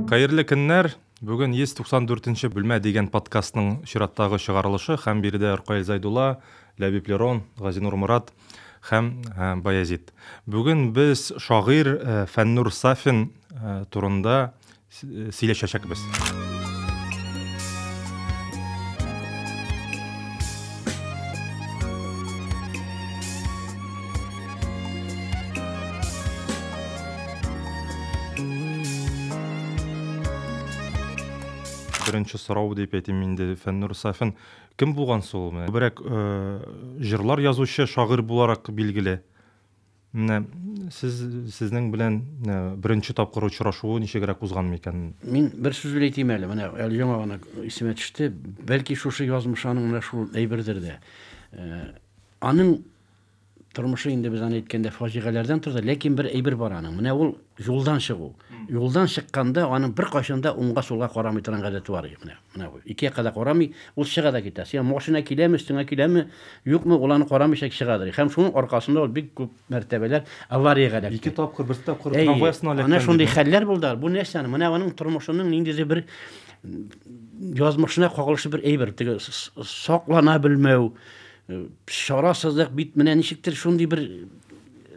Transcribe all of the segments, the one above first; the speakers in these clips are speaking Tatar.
Хәерле көннәр! Бүген 194 нче бүлмә дигән подкастның чираттагы чыгарылышы һәм биредә Ркаил Зайдулла, Ләбиб Лерон, Газинур Морат һәм Баязит. Бүген без шагыйрь Фәннур Сафин турында сөйләшәчәкбез. Беренче сорау дип әйтим инде, Фәннур Сафин. Кем булган соң ул? Күбрәк җырлар язучы, шагыйрь буларак билгеле. Менә сез сезнең белән э, беренче тапкыр очрашуы ничегрәк узган микән? Мин бер сүз бер әйтим әле, менә әле яңа гына исемә төште. Бәлки шушы язмыш аның менә шул әйбердер дә. Э, аның тормышы инде без аны әйткәндә фаҗигаләрдән торды, ләкин бер әйбер бар аның. Менә ул юлдан чыгу. Юлдан чыкканда аның бер кайчанда уңга сулга карамый торган гадәте бар иде менә. Менә бу. Ике якка да карамый, ул чыга да китә. Сиңа машина киләме, өстеңә киләме, юкмы, ул аны карамыйча чыга да. Һәм шуның аркасында ул бик күп мәртәбәләр авариягә эләкте. Ике тапкыр, бер тапкыр трамвай астына эләккән. Әйе, ана шундый хәлләр булды. Бу нәрсә аны? Менә аның тормышының ниндидер бер язмышына кагылышлы бер әйбер. Теге саклана белмәү, чарасызлык бит менә ничектер шундый бер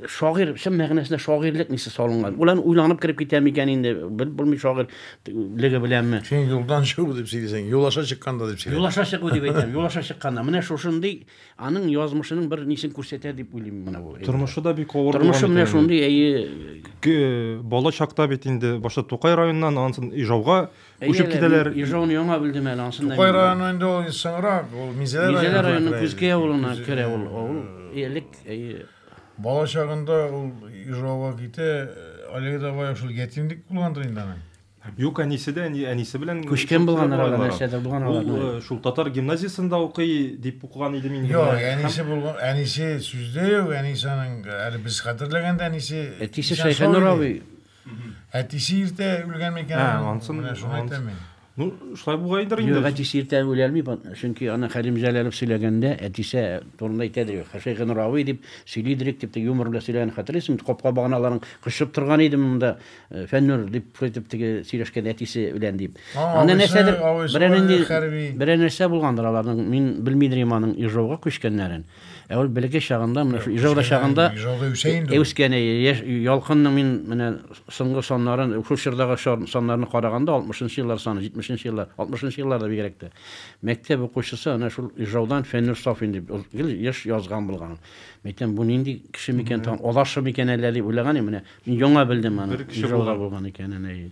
Шагыйрь, чын мәгънәсендә шагыйрьлек мисе салынган. Ул ән уйланып кереп китә микән инде, белеп булмый шагыйрь леге беләнме. Син юлдан чыгу дип сөйлисең, юл аша чыкканда дип сөйлә. Юл аша чыгу дип әйтәм, юл аша чыкканда. Менә шушындый аның язмышының бер нисен күрсәтә дип уйлыйм менә бу. Тормышы да бик авыр булган икән. Тормышы менә шундый, әйе. Бала чакта бит инде башта Тукай районыннан, аннан Ижауга Әйе, әле китәләр. Ижауны яңа белдем әле, ансын да. Тукай районы инде ул соңрак, ул Мизәлә районы. Мизәлә районы Күзкәй авылына керә ул авыл. Элек, әйе. Бала чагында ул Ижауга китә, Оледа бая шул ятимлек булгандыр инде аның. Юк, әнисе дә, әнисе белән күчкән булган арада нәрсәдә булган арада. Ул шул татар гимназиясендә укый дип укыган идем инде. Юк, әнисе булган, әнисе сүздә юк, әнисе аның әле без хәтерләгәндә әнисе. Әтисе Шәйхәнур абый. Әтисе иртә үлгән микән? Ә, ансын, менә шуны ансыз. әйтәм мин. Ну, шулай булгандыр инде. Юк, әтисе иртә үләлми, бат- чөнки аны Хәлим Җәләлов сөйләгәндә, әтисе турында әйтә дирек. Хәшәйгә Нуравый дип сөйли дирек, дип, теге юмор белән сөйләгәнен хәтерлисең бит, капка баганаларын кочып торган иде монда, э, Фәннүр, дип, шулай итеп теге сөйләшкән әтисе белән, дип. А, Анда абыйсы- нәрсәдер, абыйсы берәр нинди хәрби. берәр нәрсә булгандыр аларның, мин белмидер идем аның Ижауга күчкәннәрен. Ә ул бәләкәй чагында, менә шу Ижауда чагында Ижауда үсә инде. Э, үскән яшь Ялкынның мин менә соңгы саннарын, шул чордагы саннарны караганда 60 еллар саны, 70 еллар, 60 еллар да бигрәк тә. Мәктәп укучысы ана шул Ижаудан Фәннүр Сафин дип гел еш язган булган. Мәйтәм, бу нинди кеше микән тагын, адашы микән әллә дип уйлаган идем, менә мин яңа белдем аны. Ижауда булган икәнен.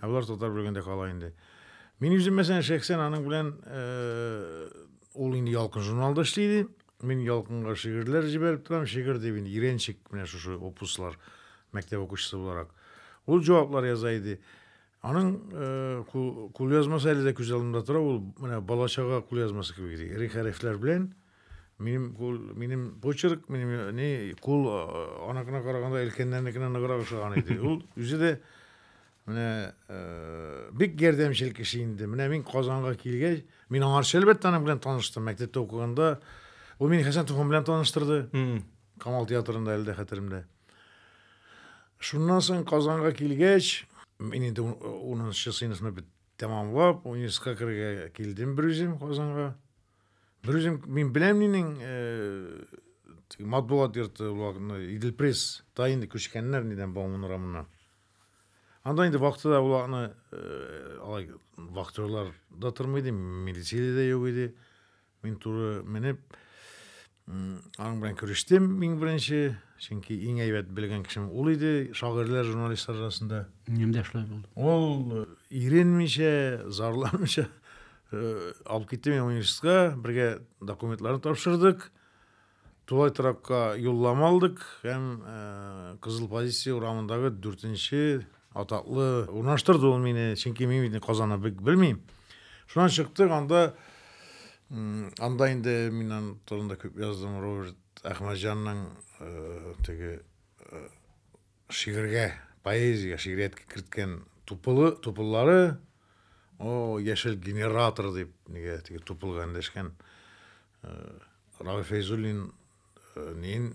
Ә болар татар бүлегендә кала инде. Мин үзем мәсәлән шәхсән аның белән э, ул инде ялкын журналда эшли иде. Мин ялкынга шигырьләр җибәреп торам, шигырь дип инде иренчек менә шушы опуслар мәктәп укучысы буларак. Ул җаваплар яза иде. Аның э, кулъязмасы әле дә күз алдымда тора, ул менә балачага кулъязмасы кебек иде. Ире хәрефләр белән Минем кул, минем почерк, минем не кул анакына караганда өлкәннәрнекенә ныграк ошаган иде. Ул үзе дә менә бик ярдәмчел кеше инде. Менә мин Казанга килгәч, мин аңарча әлбәттә аның белән таныштым. Мәктәптә укыганда ул мине Хәсән Туфан белән таныштырды. Камал театрында әле дә хәтеремдә. Шуннан соң Казанга килгәч, мин инде 10 сыйныфны бит тәмамлап, университетка керергә килдем бер үзем Казанга. Берүзем мин беләм нинең матбугат йорты уларны Идел пресс та инде күчкәннәр нидән Бауман урамына. Анда инде вакытыда уларны алай вахтерлар да тормый иде, милиция дә юк иде. Мин туры менеп Аның белән күрештем иң беренче, чөнки иң әйбәт белгән кешем ул иде, шагыйрьләр, журналистлар арасында. Ниндә шулай булды? Ул э, иренмичә, зарламыйча э, алып китте мине университетка, бергә документларын тапшырдык. Тулай торакка юллама алдык һәм э, Кызыл позиция урамындагы дүртенче Атаклы урнаштырды ул мине, чөнки мин бит Казанны бик белмим. Шуннан чыктык, анда анда инде миннән турында күп яздым, Роберт Әхмәтҗанның э, теге э, шигырьгә, поэзиягә, шигъриятка керткән тупылы, тупыллары, о, яшел генератор дип, нигә теге тупылга эндәшкән Раф Фәйзуллин нин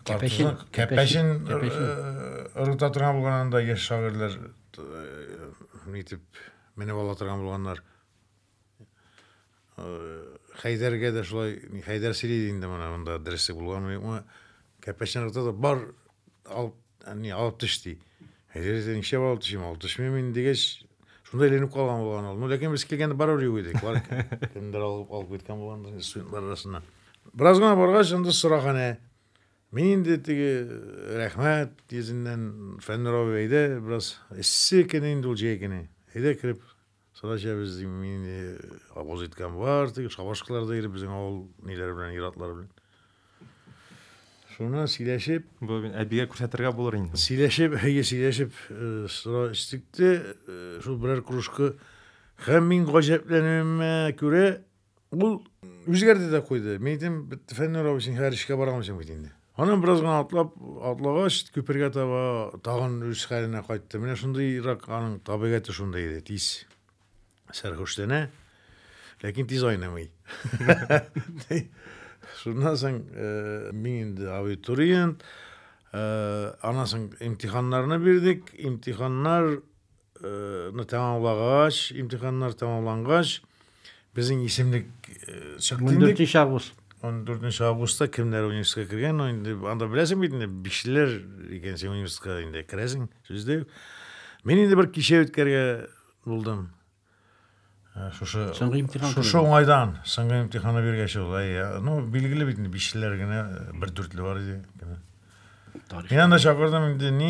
Кәпәшин Кәпәшин ырыта торган булган анда яшь шагыйрьләр нитеп менеп ала торган булганнар. Хәйдәргә дә шулай Хәйдәр сөйли инде моны монда дөресе булганмы юкмы. Кәпәшин ырыта да бар алып Әни, алып төш, ди. Әйдәгез, нишләп алып төшим? Алып төшмим мин, дигәч, шунда әйләнеп калган булган ул. Ну, ләкин без килгәндә барыбер юк идек. Бар кемдер алып алып киткән булган студентлар арасына. Бераз гына баргач, анда сораханә. Мин инде теге рәхмәт йөзеннән фәннәр абый әйдә, бераз эссе көне инде ул җәй көне. Әйдә кереп Сара җәбез дим мин инде авыз иткән бар, теге шабашкалар да иреп безнең авыл ниләре белән иратлары белән. Шуна сөйләшеп, бу мин әбигә күрсәтергә булыр инде. Сөйләшеп, әйе, сөйләшеп э, сыра эчтек те, э, шул берәр кружка һәм мин гаҗәпләнүемә күрә, Ул үзгәрде дә куйды. Мин әйтәм, Фәннүр абый, син хәзер эшкә бара алмыйсың бит инде. Аннан бераз гына атлап, атлагач, күпергә таба тагын үз хәленә кайтты. Менә шундыйрак аның табигате шундый иде, тиз сәрхүшләнә, ләкин тиз айнымый. Шуннан соң э, мин инде абитуриент, э, аннан соң имтиханнарны бирдек, имтиханнар ны тәмамлагач, имтиханнар тәмамлангач, безнең исемлек э, чыкты инде. 14 август. 14 августта кемнәр университетка кергән, инде анда беләсең бит инде, бишләр икән син университетка инде керәсең, сүздә. Мин инде бер кичә үткәргә булдым. Э, шушы соңгы имтихан шушы уңайдан соңгы имтиханы биргәч ул әйе ну билгеле бит инде бишлеләр генә бер дүртле бар иде мин анда чакырдым инде ни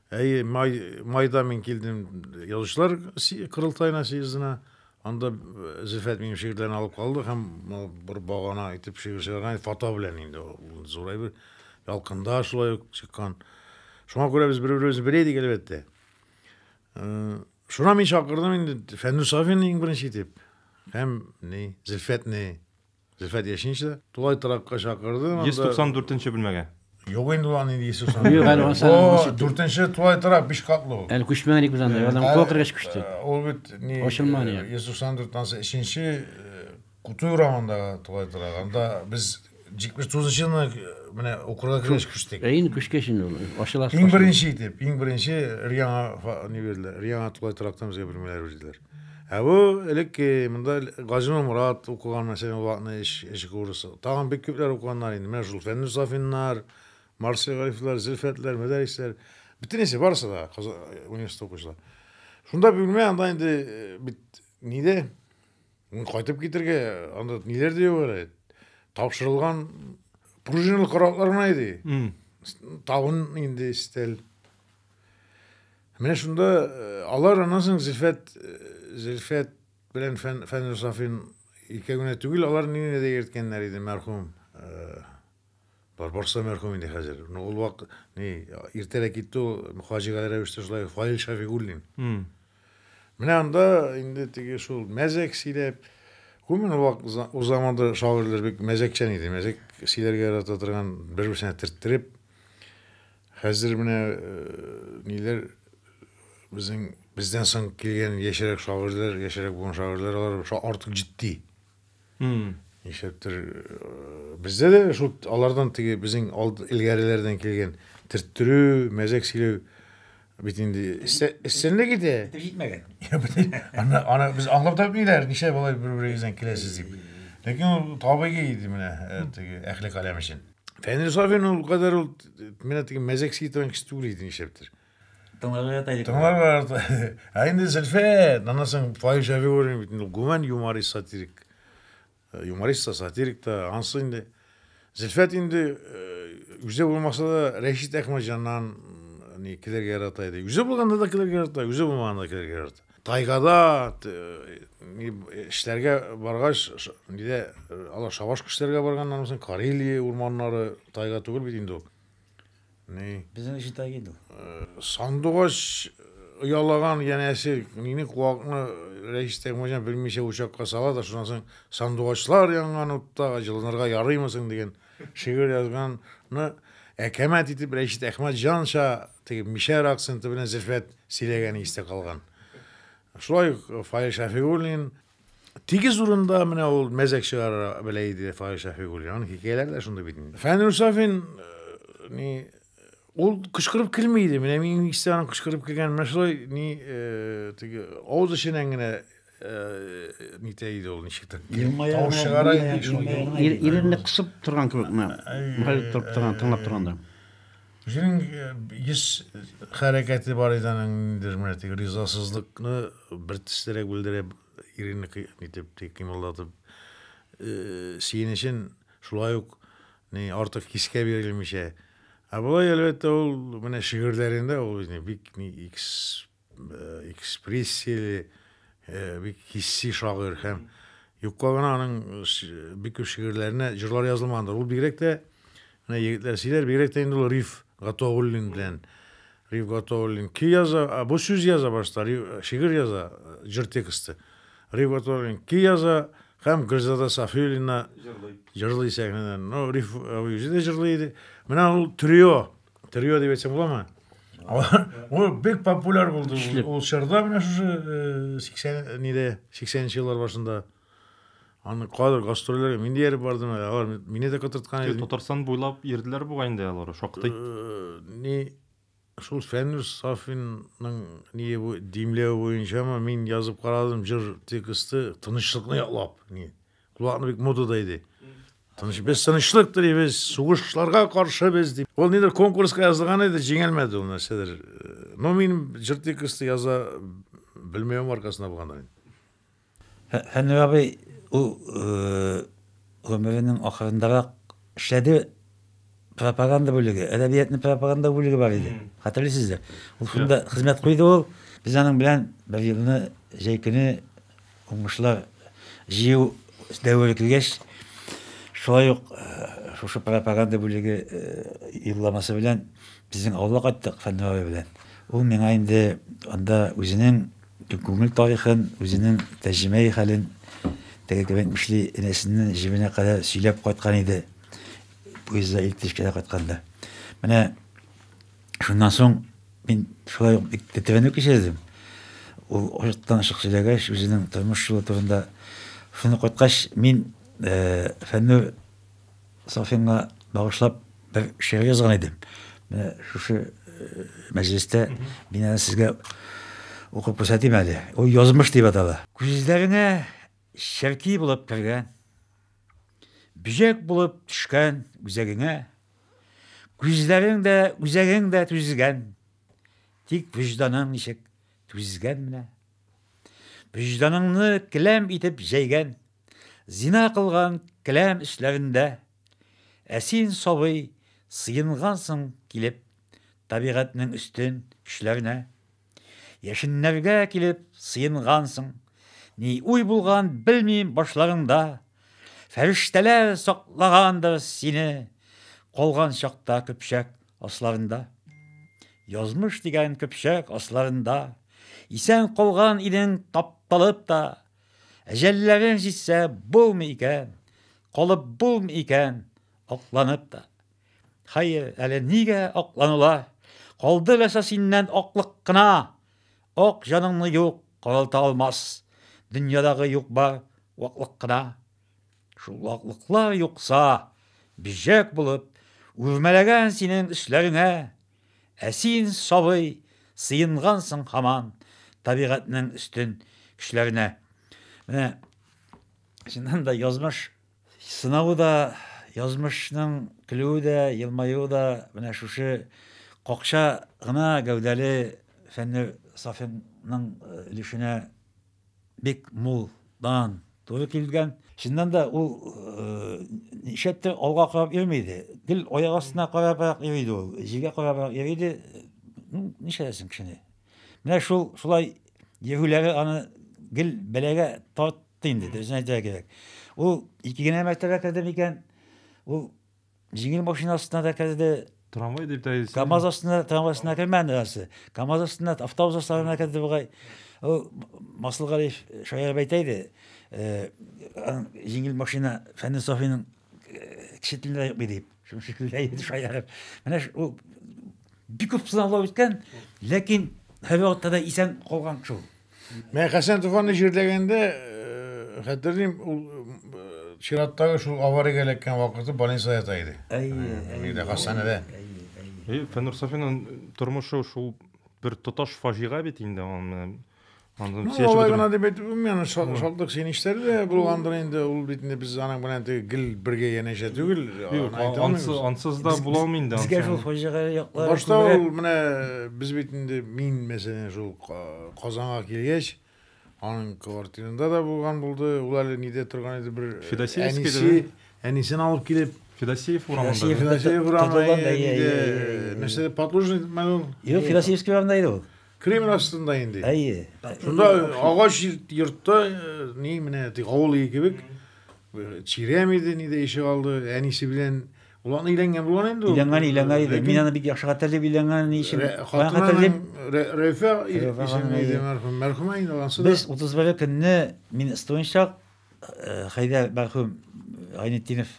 Әйе, май, майда мин килдем язучылар корылтаена, съездына. Анда э, Зөлфәт минем шигырьләрне алып калды һәм бер багана итеп шигырь чыгарган фото белән инде ул зурай бер ялкында шулай ук чыккан. Шуңа күрә без бер-беребезне белә идек әлбәттә. Э, шуна мин чакырдым инде Фәнүр Сафин иң беренче итеп һәм ни Зөлфәтне Зөлфәт яшенче дә. Тулай торакка чакырды. 194 нче бүлмәгә. Юк инде ул аны инде 194. Бу дүртенче тулай торак, биш катлы ул. Әле күчмәгән икән без анда, алар куа кергәч күчте. Ул бит ни, 194 анысы өченче Кутуй урамындагы тулай торак. Анда без 79 нчыны менә укырга кергәч күчтек. Ә инде күчкәч инде ул ачыла. Иң беренче итеп, иң беренче өр-яңа ни бирделәр, өр-яңа тулай торактан безгә бүлмәләр бирделәр. Ә бу элекке монда Газинур Мурат укыган мәсәлән ул вакытны эш эш курсы. Тагын бик күпләр укыганнар инде. Менә шул Фәннүр Сафиннар, Марсель Гарифлар, Зөлфәтләр, Мөдәрисләр. Бөтенесе барысы да Казан университеты укучылар. Шунда бүлмә анда инде э, бит ниде? Кайтып китергә анда ниләр дә юк әле. Тапшырылган пружиналы караклар гына иде. Табын инде стель. Менә шунда алар аннан соң Зөлфәт, Зөлфәт белән Фән, Фәнзүр Сафин икәү генә түгел, алар нине дә йөрткәннәр иде, мәрхүм. Бар, барсы мәрхүм инде хәзер. Ну, ул вак, ни, иртәрәк китте ул, фаҗигале рәвештә шулай, Фаил Шафигуллин. Менә анда инде теге шул мәзәк сөйләп, гомумән вак, ул заманда шагыйрьләр бик мәзәкчән иде, мәзәк сөйләргә ярата торган, бер-берсенә төрттереп, Хәзер менә ниләр безнең бездән соң килгән яшьрәк шагыйрьләр, яшьрәк булган шагыйрьләр алар артык җитди. Нишләптер бездә дә шул алардан теге безнең элгәреләрдән килгән төрттерү, мәзәк сөйләү бит инде эсселек иде. Җитмәгән. Аны аны без аңлап та бирәр, ничә болай бер-берегездән киләсез дип. Ләкин ул табигый иде менә теге әхлек алем өчен. Фәнил Сафин ул кадәр ул менә теге мәзәк ситән кеше түгел иде нишләптер. Тыңларга ята идек. Тыңларга ята. Ә инде Зөлфәт, анасын Фаил Шәфигуллин бит инде гүмән юморист сатирик. Э, юморист та, сатирик та, ансы инде. Зөлфәт инде э, үзе булмаса да Рәшит Әхмәтҗаннан не килергә ярата иде. Үзе булганда да килергә ярата, үзе булмаганда да килергә ярата. Тайгада эшләргә баргач, нидә алар шабаш кешеләргә барганнар мисен? Карелия урманнары тайга түгел бит инде ул. Ни? Безнең өчен тайга инде ул. Сандугач оялаган янәсе нини куакны Рәис Тәкмәҗан белмичә учакка сала да, шуннан соң сандугачлар янган утта җылынырга ярыймы соң дигән шигырь язганны әкәмәт итеп Рәшит Әхмәтҗанча Теге мишәр акценты белән Зөлфәт сөйләгәне истә калган. Шулай ук Фаил Шәфигуллин тигез урында менә ул мәзәк чыгара белә иде Фаил Шәфигуллин. Аның хикәяләре дә шундый бит инде. Фәнүр Сафин э, ни ул кычкырып килми иде. Менә мин истә аның кычкырып килгән менә шулай ни э, теге авыз эченнән генә э, нитә иде ул ничектер. Тавыш чыгара иде шул. Иренне кысып торган кебек менә. Мөхәлләп торып торган, тыңлап торганда. Үзенең йөз хәрәкәте бар иде аның ниндидер менә теге ризасызлыкны бер төстәрәк белдерә иренне итеп кыймылдатып сөенечен шулай ук ни артык кискә бирелмичә. Ә болай әлбәттә ул менә шигырьләрендә ул бик ни экспрессияле, бик хисси шагыйрь һәм юкка гына аның бик күп шигырьләренә җырлар язылмагандыр. Ул бигрәк тә менә егетләр сөйләр, бигрәк тә инде ул Риф Гатауллин белән Риф Гатауллин ки яза, а бу сүз яза башта, шигырь яза, җыр тексты. Риф Гатауллин ки яза һәм Гөлзада Сафиуллина җырлый сәхнәдән. Ну, Риф үзе дә җырлый иде. Менә ул трио, Трио дип әйтсәң буламы? Ул бик популяр булды. Ул чорда менә шушы 80 ниде, 80нче еллар башында. Аны кадр гастрольләргә мин дияр бардым. Алар мине дә котырткан иде. Татарстан буйлап йөрделәр бугай инде алар шактый. Ни шул Фәнүс Сафинның ни бу димләве буенчамы мин язып карадым җыр тексты тынычлыкны яклап. Ни Кулакны бик модада иде. Тыныч, без тынычлык телибез, сугышларга каршы без дип. Ул нидер конкурска язылган иде, җиңелмәде ул нәрсәдер. Но мин җыр тексты яза белмәвем аркасында булгандыр инде. Фәннүр абый ул гомеренең ахырындарак эшләде Пропаганда бүлеге, әдәбиятны пропаганда бүлеге бар иде. Хәтерлисездер. Ул шунда хезмәт куйды ул. Без аның белән бер елны җәй көне уңышлар җыю дәвере килгәч, шулай ук шушы пропаганда бүлеге юлламасы белән безнең авылга кайттык Фәннүр абый белән. Ул миңа инде анда үзенең күңел тарихын, үзенең тәрҗемәи хәлен, теге кебек эшли, энәсеннән җебенә кадәр сөйләп кайткан иде. Поездда электричкада кайтканда. Менә шуннан соң мин шулай ук бик тәтевәнү кичердем. Ул ояттан ашык сөйләгәч, үзенең тормыш юлы турында. Шуны кайткач, мин э, Фәннүр Сафинга багышлап бер шигырь язган идем. Менә шушы э, мәҗлестә мин аны сезгә укып күрсәтим әле. Ул язмыш дип атала. Күзләренә Черки булып кергән. Бөҗәк булып төшкән үзәгеңә. Күзләрең дә, үзәгең дә түзгән. Тик вөҗданың ничек түзгән менә. Вөҗданыңны келәм итеп җәйгән. Зина кылган келәм эшләрендә. Ә син, сабый, сыенгансың килеп табигатьнең өстен көчләренә. Яшеннәргә килеп сыенгансың. Ни уй булган, белмим, башларыңда. Фәрештәләр саклагандыр сине, калган чакта көпшәк асларында. Язмыш дигән көпшәк асларында, исән калган идең тапталып та. Әҗәлләрең җитсә, булмый икән, калып булмый икән, акланып та. Хәер, әле нигә акланыла? Калды ләсә синнән аклык кына. Ак җаныңны юк каралта алмас. Дөньядагы юк бар ваклык кына. Шул ваклыклар юкса, бижәк булып, үрмәләгән синең өсләреңә. Ә син, сабый, сыенгансың хаман табигатьнең өстен көчләренә. Менә чыннан да язмыш Сынавы да, язмышның көлүе дә, елмаюы да менә шушы какча гына гәүдәле Фәннүр Сафинның өлешенә бик мул дан туры килгән. Чыннан да, ул нишләптер алга карап йөрми иде. Гел аяк астына карабрак йөри иде ул, җиргә карабрак йөри иде. Ну, нишләтәсең кешене. Менә шул шулай йөрүләре аны гел бәлагә тарт Инде дөресен әйтергә кирәк. Ул ике генә мәртәбә керде микән? Ул җиңел машина астына да керде. Трамвай дип тә әйтсен. КАМАЗ астына, трамвай астына кермәде нәрсә. КАМАЗ астына, автобус астына керде бугай. Ул Масылгалиев шаярып әйтә иде. Э, җиңел машина Фәнис Софиның э, кеше телендә юк дип. Шуның шикелле әйе шаярып. Менә ул бик күп сынаулар үткән, ләкин һәрвакытта да исән калган шул. Менә Хәсән Туфанны җирләгәндә э, хәтерлим, ул э, чираттагы шул авариягә эләккән вакыты больница ята иде. Әйе, әйе. Хастаханәдә. Әйе, Фәнүр Сафинның тормышы шул бер тоташ фаҗига бит инде. Аны Ну, алай гына дип әйтеп булмый, аны шатлык сөенечләре дә булгандыр инде. Ул бит инде без аның белән теге гел бергә янәшә түгел. Юк, ансыз, ансыз да була алмый инде. Безгә шул фаҗигале яклар. Башта ул менә без бит инде мин мәсәлән шул Казанга килгәч, аның квартирында да булган булды. Ул әле нидә торган иде бер әнисе, әнисен алып килеп Федосеев урамында. Федосеев урамында. Нәрсә, Подлужный мәлум? Юк, Федосеевский урамында иде ул. Кремль астында инде. Әйе. Шунда агач йортта ни менә авыл өе кебек чирәм иде, ни дә ишек алды, әнисе белән Ул аны өйләнгән булган инде ул. Өйләнгән, өйләнгән иде. Мин аны бик яхшы хәтерлим, өйләнгән ни өчен. Хатынлым Рәйфә исеме иде мәрхүм. Мәрхүмә инде ансыз. Без 31 көнне мин студент чак, Хәйдәр мәрхүм Гайнетдинов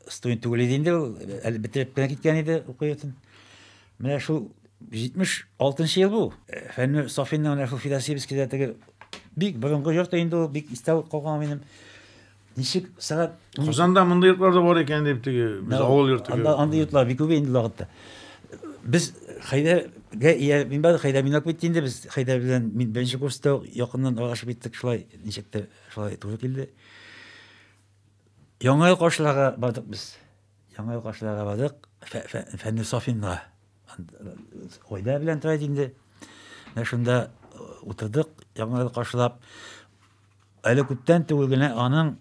студент түгел иде инде ул, әле бетереп кенә киткән иде уку йортын. Менә шул 76 ел бу. Фәннүр Сафинның менә шул Федосеевскийда теге бик борынгы йорт инде ул, бик истә калган минем. Ничек сәгать Казанда мондый йортлар да бар икән дип теге без авыл йорты. Анда андый йортлар бик күп инде лагытта. Без Хәйдәргә ия мин бары Хәйдәр минак бит инде без Хәйдәр белән мин беренче курста якыннан аралашып киттек шулай. Ничектер шулай туры килде. Яңа ел каршыларга бардык без. Яңа ел каршыларга бардык. Фәнни Сафинга. Гайдә белән тора иде инде. Менә шунда э, утырдык, яңа ел каршылап. Әле күптән түгел генә аның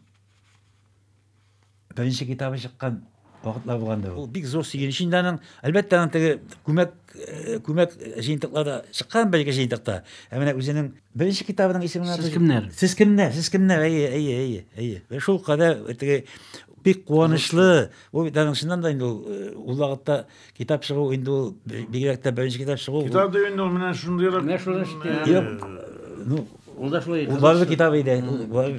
Беренче китабы чыккан вакытлар булгандыр ул. Ул бик зур сөенеч инде аның. Әлбәттә, аның теге күмәк э, күмәк җыентыклар да чыккан бер ике җыентыкта. Ә менә үзенең беренче китабының исеме Сез кемнәр? Сез кемнәр? Сез кемнәр? Әйе, әйе, әйе, әйе. Вә шул кадәр теге бик куанычлы, ул бит аның чыннан да инде ул э, ул вакытта Китап чыгу инде ул бигрәк тә беренче китап чыгу. Китап да инде ул менә шундыйрак. Менә шундый шикелле. Юк. Ну, ул да шулай. Ул барлык китап иде.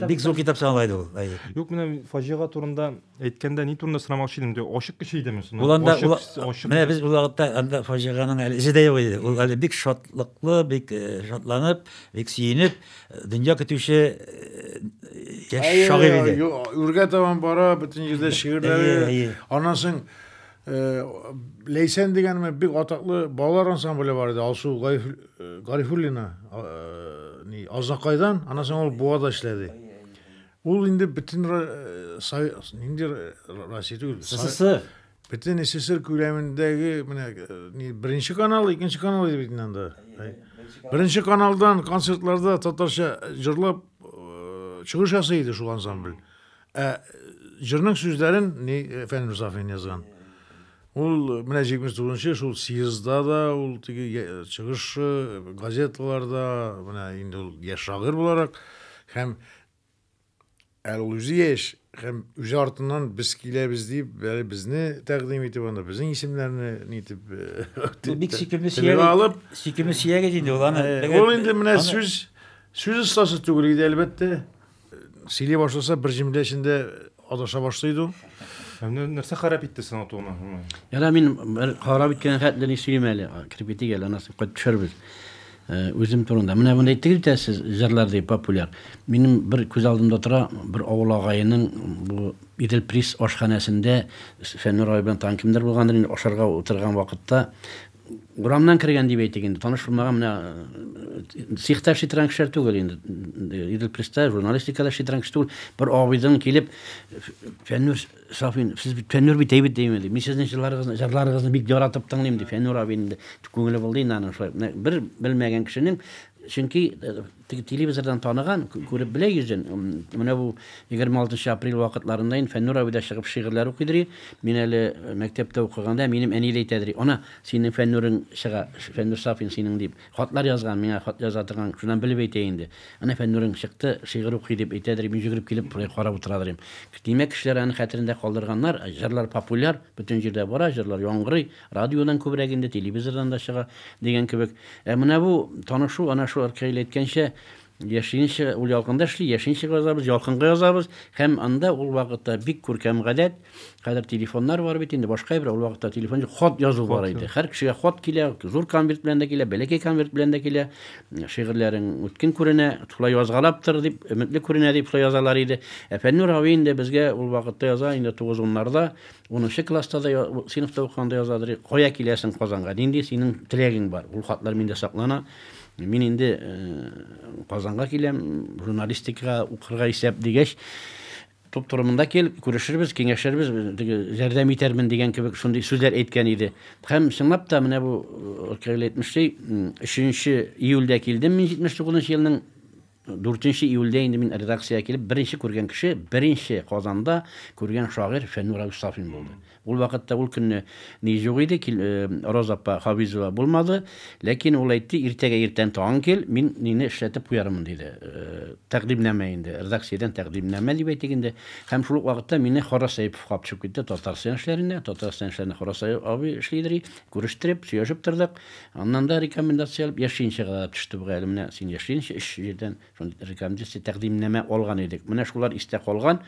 Бик зур китап чыган иде ул. Юк, менә фаҗига турында әйткәндә ни турында сорамакчы идем. Ачык кеше идеме соң? Ул анда менә без ул вакытта анда фаҗиганың әле изе дә юк иде. Ул әле бик шатлыклы, бик э, шатланып, бик сөенеп, э, дөнья көтүче э, яшь шагыйрь иде. Үргә табан бара, бөтен җирдә шигырьләре. Аннан соң Э, Ләйсән дигәнме бик атаклы балалар ансамбле бар иде. Алсу Гарифуллина э, э, ни Азнакайдан, аннан соң ул Буада эшләде. Ул инде бөтен нинди Россия түгел. СССР. Бөтен СССР күләмендәге менә ни беренче канал, икенче канал иде бит анда. Беренче каналдан концертларда татарча җырлап чыгыш ясый иде шул ансамбль. Ә җырның сүзләрен ни Фәнил Мусафин язган. Ул менә 79-нчы шул съездда да, ул теге чыгышы газеталарда, менә инде ул яшь шагыйрь буларак һәм әле ул үзе яшь һәм үзе артыннан без киләбез дип, әле безне тәкъдим итеп анда безнең исемнәрне нитеп э, бик сөйкемле сөяк алып, сөйкемле сөяк иде инде ул аны. Э, ул инде менә сүз сүз остасы түгел иде әлбәттә. Сөйли башласа, бер җөмлә эчендә адаша башлый иде ул. Нәрсә харап итте сиңа туган? Яра мин бер харап иткән хәтле ни сөйлим әле. Киреп итик әле, анасы кайтып төшербез. Үзем турында. Менә мондый итегез дә сез җырлар дип популяр. Минем бер күз алдымда тора, бер авыл агайының бу Идел Прис ашханәсендә Фәннүр абый белән тагын кемдер булгандыр инде ашарга утырган вакытта Урамнан кергән дип әйтик инде, таныш булмаган менә цехта эшли торган кешеләр түгел инде. Идел Преста журналистикада эшли торган кеше түгел. Бер абыйдан килеп Фәннүр Сафин, сез бит Фәннүр бит әйбәт димә ди. Мин сезнең җырларыгызны, җырларыгызны бик яратып тыңлыйм ди. Фәннүр абый инде күңеле булды инде аның шулай. Бер белмәгән кешенең, чөнки Теге телевизордан таныган, күреп белә йөзен. Менә бу 26 апрель вакытларында инде Фәннүр абый да чыгып шигырьләр укый дери. Мин әле мәктәптә укыганда минем әни дә әйтә дери, Ана, синең Фәннүрең чыга, Фәннүр Сафин синең дип. Хатлар язган, миңа хат яза торган, шуннан белеп әйтә инде. Әнә Фәннүрең чыкты, шигырь укый дип әйтә дери, мин йөгереп килеп болай карап утыра дорим. Димәк, кешеләр аны хәтерендә калдырганнар, җырлар популяр, бөтен җирдә бара, җырлар яңгырый. Радиодан күбрәк инде, телевизордан да чыга, дигән кебек. Ә менә бу танышу, әнә шул Аркаил әйткәнчә, яшиенчә, ул ялкында эшли, яшиенчә язабыз, ялкынга язабыз, һәм анда ул вакытта бик күркәм гадәт, хәзер телефоннар бар бит инде, башка әйбер, ул вакытта телефон юк, хат язу бар иде. Һәр кешегә хат килә, зур конверт белән дә килә, бәләкәй конверт белән дә килә, шигырьләрең үткен күренә, шулай язгалап тор, дип, өметле күренә, дип шулай язалар иде. Ә Фәннүр абый инде безгә ул вакытта яза, инде тугыз-уннарда, Унынчы класста да, сыйныфта укыганда язадыр. Кая киләсең Казанга? Нинди синең теләгең бар? Ул хатлар миндә саклана. Мин инде Казанга киләм, журналистикага укырга исәп дигәч, туп турымында кел, күрешербез, киңәшербез, ярдәм итәрмен дигән кебек шундый сүзләр әйткән иде. Һәм чынлап та менә бу Ркаил әйтмешли, 3 июльдә килдем мин 79 елның Дүртенче июльдә инде мин редакциягә килеп, беренче күргән кеше, беренче Казанда күргән шагыйрь Фәннүр Рәүс Сафин булды. Ул вакытта ул көнне ни юк иде, кил, э, Роза апа Хафизова булмады, ләкин ул әйтте, иртәгә иртән тагын кил, мин нине эшләтеп куярмын, диде. Э, тәкъдимнамә инде, редакциядән тәкъдимнамә дип әйтик инде. Һәм шул ук вакытта мине Хорас Әйпов куып төшеп китте Татарстан эшләренә, Татарстан эшләренә Хорас абый эшлидер и, Күрештереп, сөйләшеп тордык. Аннан да рекомендация алып, яшьлинчәгә дә төште бу гаилә. Менә син яшьлинчә өч җирдән шундый рекомендация, тәкъдимнәмә алган идек. Менә шулар истә калган.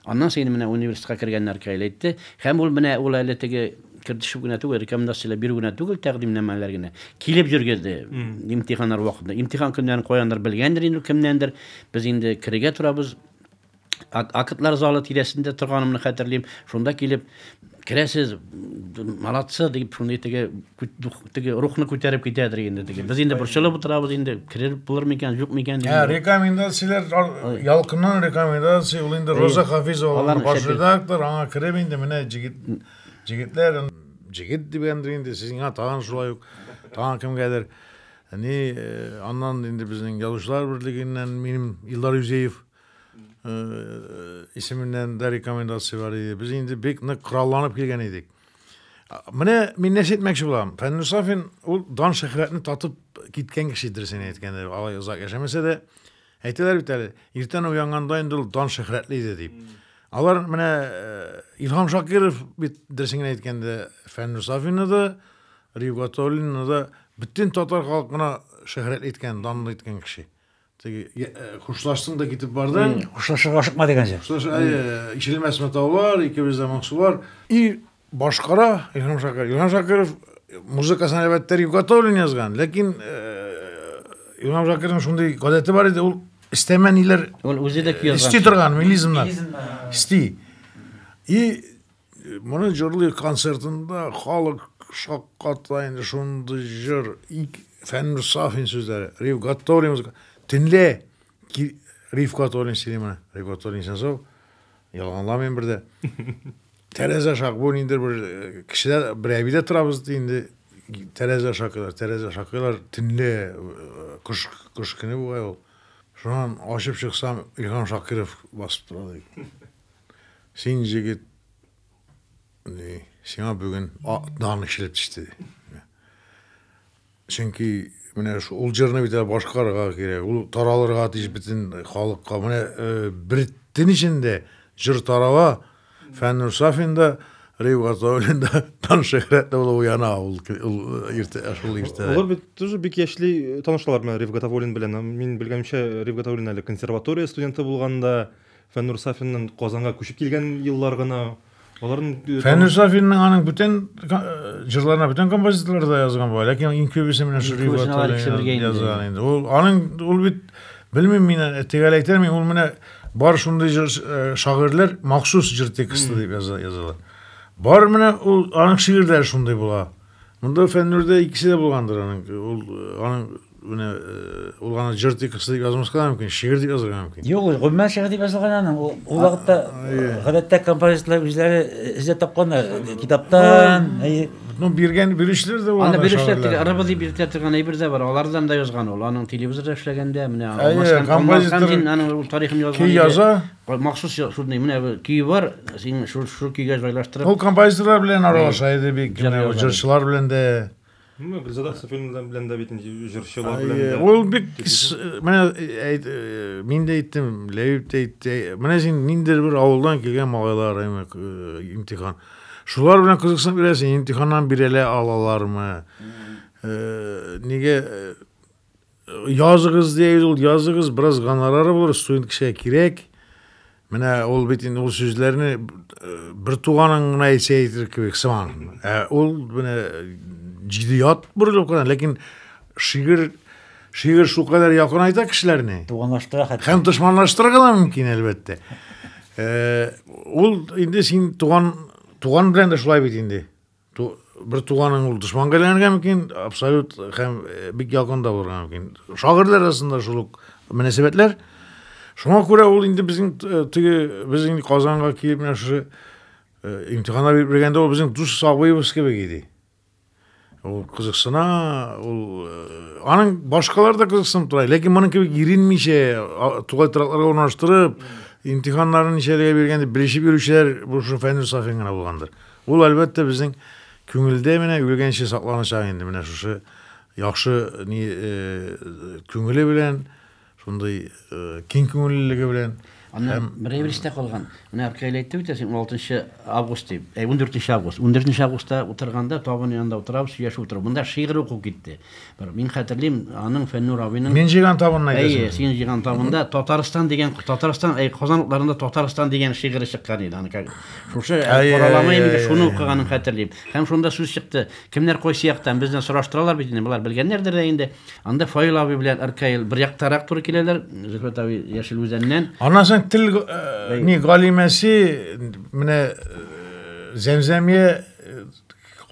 Аннан син менә университетка кергәннәр каилә итте. Һәм ул менә ул әле теге кертешеп генә түгел, рекомендацияләр бирү генә түгел, тәкъдимнәмәләр генә. Килеп йөргезде имтиханнар вакытында. Имтихан көннәрен каяндыр белгәндер инде ул кемнәндер. Без инде керергә торабыз. Актлар залы тирәсендә торганымны хәтерлим. Шунда килеп керәсез, молодцы дип шундый теге теге рухны күтәреп китәдер инде теге. Без инде борчылып утырабыз инде, кереп булыр микән, юк микән дип. Ә рекомендацияләр ялкыннан рекомендация ул инде Роза Хафизова алар баш редактор, аңа кереп инде менә җигит җигетләр җигит дигәндер инде сезгә тагын шулай ук тагын кемгәдер. Ни э, аннан инде безнең язучылар берлегеннән минем Илдар Юзеев исеменнән дә рекомендация бар иде. Без инде бик нык коралланып килгән идек. Менә мин нәрсә әйтмәкче булам. Фәннүр Сафин ул дан шөһрәтне татып киткән кеше дөресен әйткәндә, алай озак яшәмәсә дә, әйтәләр бит әле, иртән уянганда инде ул дан шөһрәтле иде дип. Алар менә э, Илһам Шакиров бит дөресен генә әйткәндә, Фәннүр Сафинны да, Рифгатуллинны да бөтен татар халкына шөһрәтле иткән, данлы иткән кеше. Теге я- э, хушлаштың да китеп бардың. Хушлашырга ашыкма дигәнчә. Хушлаш, әйе, ишелмәс матаулар, икебез дә моңсулар. И башкара Илһам Шакиров. Илһам Шакиров э, музыкасын әлбәттә Рик Гатауллин язган, ләкин э, Илһам Шакировның шундый гадәте бар иде, ул истәмә ниләр Ул үзе дә көй язган. исти торган мелизмнар. Исти. И Моны җырлый концертында халык шакката инде шундый җыр. Фәннур Сафин сүзләре. Риф Гатторин музыка. Төнлә Риф Гатторин сөйли моны. Риф Гатторин Сенцов. Ялганламыйм бердә. Тәрәзә шак бу инде бер э, кешеләр бер әбидә торабыз ди инде тәрәзә шакыйлар, тәрәзә шакыйлар төнлә э, кыш кыш көне бугай ул. Шуннан ачып чыксам, Илһам Шакиров басып тора ди. Син җегет ди, сиңа бүген дан кичелеп төште. Чөнки менә ул җырны бит башкарырга кирәк, ул таралырга тиеш бөтен халыкка. Менә э, бер төн эчендә җыр тарала, Фәннүр Сафин да, Рейв Гатауллин да тан шөһрәтле булып уяна ул иртә, шул иртә. Алар бит тоже бик яшьли э, танышлар менә Рейв Гатауллин белән. Мин белгәнчә, Рейв Гатауллин әле консерватория студенты булганда, Фәннур Сафинның Казанга күчеп килгән еллар гына аларның Фәннур Сафинның аның бүтән җырларына бүтән композиторлар да язган була, ләкин иң күбесе менә шул язган инде. Ул аның ул бит белмим мин тегәл әйтәм, ул менә бар шундый җыр шагыйрьләр махсус җыр тексты дип яза язалар. Бар менә ул аның шигырьләре шундый була. Монда Фәннүрдә икесе дә булгандыр аның. Ул аның Менә ул аны җыр дип язмаска мөмкин, шигырь дип язарга мөмкин. Юк, гомумән шигырь дип язылган аның. Ул вакытта гадәттә композиторлар үзләре эзләп тапканнар китаптан. Ну, биргән бирүчеләр дә бар. Аны бирүчеләр тик арабыз дип биртә торган әйбер дә бар. Алардан да язган ул. Аның телевизорда эшләгәндә менә Алмашхан композитор дин аның ул тарихын язган. Ки яза. Махсус шуны менә көй бар, син шул шул көйгә җайлаштырып. Ул композиторлар белән аралаша иде бик, җырчылар белән дә. Ну, Гүлзада Хәсәфуллина белән дә бит инде җырчылар белән дә. Ул бик менә әйт мин дә әйттем, Ләбиб тә әйтте. Менә син ниндидер бер авылдан килгән малайлар имтихан. Шулар белән кызыксынып йөрәсең, имтиханнан бирәлә алалармы? Нигә языгыз диябез ул языгыз бераз гонорары булыр студент кешегә кирәк менә ул бит инде ул сүзләрне э, бер туганың гына әйтсә әйтер кебек сыман ә ул менә җидият борылып кына ләкин шигырь шигырь шулкадәр якынайта кешеләрне туганлаштыра хәтта һәм дошманлаштырырга да мөмкин әлбәттә э, ул инде син туган туган белән дә шулай бит инде Ту, бер туганың ул дошманга әйләнергә мөмкин, абсолют һәм э, бик якында булырга мөмкин. Шагыйрьләр арасында шул ук мөнәсәбәтләр. Шуңа күрә ул инде безнең э, теге без инде Казанга килеп менә шушы э, имтиханнар биреп бергәндә ул безнең дус абыебыз кебек иде. Ул кызыксына, ул аның башкалар да кызыксынып тора, ләкин моның кебек иренмичә, тугай торакларга урнаштырып, имтиханнарын ничәләргә биргән дип белешеп йөрүчеләр бу шул Фәнил Сафин гына булгандыр. Ул, әлбәттә, безнең күңелдә менә үлгәнче сакланачак инде менә шушы яхшы ни күңеле белән, шундый киң күңеллелеге белән. Аннан берәйбер истә калган. Менә Аркаил әйтте бит, 16 август дип. Әй, 14 август. 14 августта утырганда табын янында утырабыз, сөйләшеп утырабыз. Монда шигырь уку китте. Бер мин хәтерлим, аның Фәннур абыйның Мин җыйган табынны әйтәсең. Әйе, син җыйган табында Татарстан дигән Татарстан, әй Казан утларында Татарстан дигән шигыре чыккан иде аны. Шушы коралама инде шуны укыганын хәтерлим. Һәм шунда сүз чыкты. Кемнәр кайсы яктан бездән сораштыралар бит инде, болар белгәннәрдер дә инде. Анда Фаил абый белән Аркаил бер яктарак туры киләләр, Зөфәт абый Яшел Үзәннән. Аннан соң тел э, ни галимәсе менә э, Зәмзәмия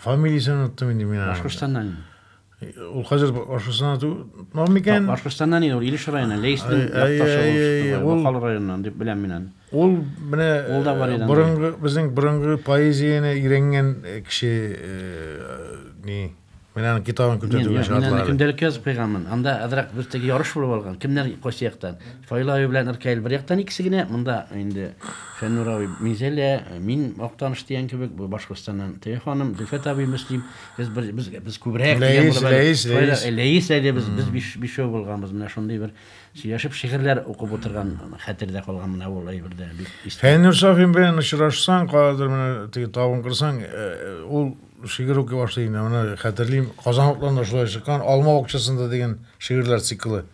Фамилиясен оныттым инде мин аның. Башкортстаннан инде. Ул хәзер Башкортстаннан тотмау микән? Башкортстаннан инде ул Илеш районы, Лейстин якташы ул шикелле, Бакал районыннан дип беләм мин аны. Ул менә ул да бар иде. Борынгы безнең борынгы поэзияне өйрәнгән кеше ни Менә аның китабын күтәрде генә шатлар. Мин көндәлек язып куйганмын. Анда азрак без теге ярыш булып алган. Кемнәр кайсы яктан? Фаила аю белән Иркәил бер яктан икесе генә, монда инде Фәннур абый, Минзәлә, мин Актаныш дигән кебек, бу Башкортстаннан теге ханым, Зөлфәт абый, Мөслим, без бер без без күбрәк дигән Ләис, булып әле. Ләис, Шулай да, Ләис. э, Ләис әле без без биш бишәү булганбыз. Менә шундый бер сөйләшеп шигырьләр укып утырган хәтердә калган менә ул әйбердә бик истә. Фәннүр Сафин белән очрашсаң, кадәр менә теге табын кырсаң, э, э, ул шигырь укый башлый инде. Менә хәтерлим, Казанлыкларда шулай чыккан, Алма бакчасында дигән шигырьләр циклы.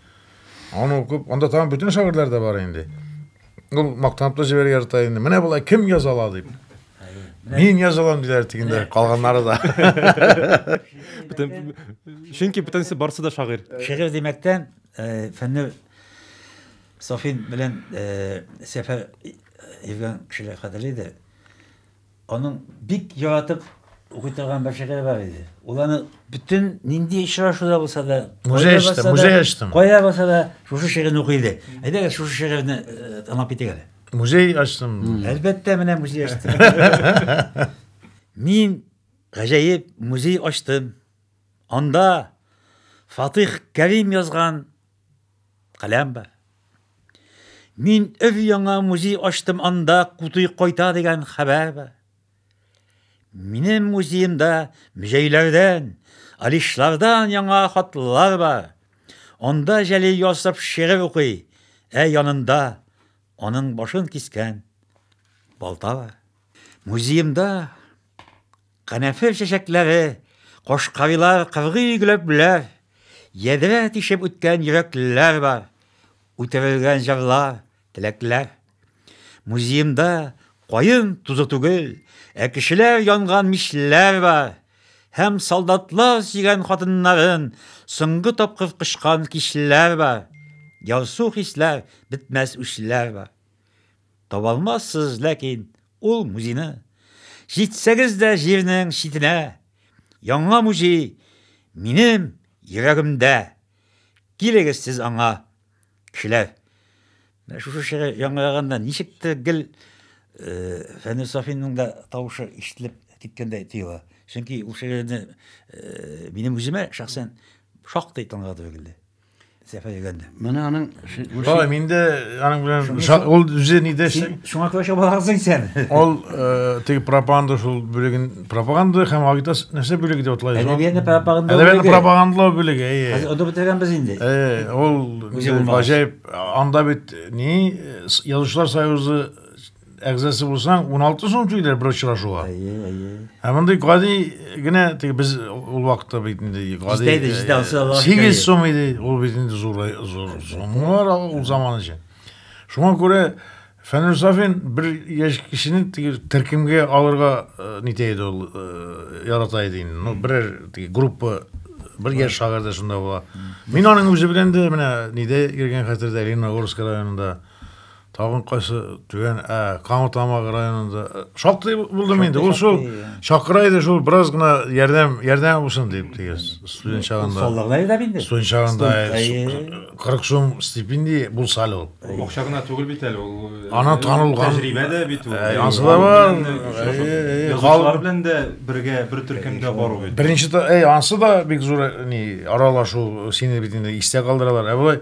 Аны укып, анда тагын бөтен шагыйрьләр дә бар инде. Ул мактанып та җибәрә ярата инде. Менә болай кем яза ала дип. Мин яза алам диләр дигәндә, калганнары да. Бөтен чөнки бөтенесе барсы да шагыйрь. Шигырь димәктән э, фәннүр Софин белән э, Сәфәр Евген кешеләр кадерле иде. Аның бик яратып укый торган бер шигыре бар иде. Ул аны бөтен нинди очрашуда булса да, музей ачтым, музей ачтым. Кая булса да шушы шигырьне укый иде. Әйдәгез шушы шигырьне э, тыңлап китик әле. Музей ачтым. Әлбәттә, менә музей ачтым. Мин гаҗәеп музей ачтым. Анда Фатих Кәрим язган Каләм бар. Мин өр яңа музей ачтым, анда кутуй кайта дигән хәбәр бар. Минем музеемда музейләрдән, алишлардан яңа хатлар бар. Анда Җәлил Ясов шигырь укый, ә янында аның башын кискән балта бар. Музеемда Канәфер чәчәкләре, кошкавилар кыргый гөләпләр, ядрә тишеп үткән йөрәклеләр бар, үтерелгән җырлар, теләкләр. Музеемда каен тузы түгел, ә кешеләр янган мичләр бар һәм солдатлар сөйгән хатыннарын соңгы тапкыр кочкан кичләр бар. Ярсу хисләр, бетмәс үчләр бар. Таба алмассыз, ләкин ул музейны. Җитсәгез дә җирнең читенә, Яңа музей минем йөрәгемдә. Килегез сез аңа, кешеләр. Менә шушы шигырь яңгыраганда ничек тә гел Фәнүр Сафинның да тавышы ишетелеп киткәндәй тоела. Чөнки ул шигырьне минем үземә шәхсән шактый тыңлатып өлгерде. Сәфәр егәнде. Менә аның Шулай, мин дә аның белән ул үзе нидә эшли? Шуңа күрә чабаларсың сен. Ул э, теге пропаганда шул бүлеген пропаганда һәм агитация нәрсә бүлеге дип атлай. Әдәбиятны пропаганда бүлеге. Әдәбиятны пропагандалау бүлеге, әйе. Хәзер анда бетергән без инде. Әйе, ул гаҗәеп. Анда бит ни язучылар союзы әгъзасы булсаң, 16 сум түләр бер очрашуга. Әйе, әйе. Ә мондый гади генә теге без ул вакытта бит инде гади. Җитә иде, җитә алса ла. 8 сум иде, ул бит инде зур зур суммалар ул заман өчен. Шуңа күрә Фәнүр Сафин бер яшь кешене теге төркемгә алырга э, нитә иде ул э, ярата иде инде. Ну, берәр теге группа бер яшь шагыйрь дә шунда була. Мин аның үзе белән дә менә нидә йөргән хәтердә Лениногорск районында. Тагын кайсы түгән ә Камытамак районында э, шактый булдым инде. Ул шул чакыра иде шул бераз гына ярдәм ярдәм булсын дип теге студент чагында. Соллыгына иде бит инде. Студент чагында 40 сум стипендия булса әле ул. Акча гына түгел бит әле ул. Э, Ана танылган тәҗрибә дә бит ул. Э, ансы да бар. Язучылар белән дә бергә бер төркемдә бару бит. Беренче әй ансы да бик зур ни аралашу сине бит инде истә калдыралар. Ә болай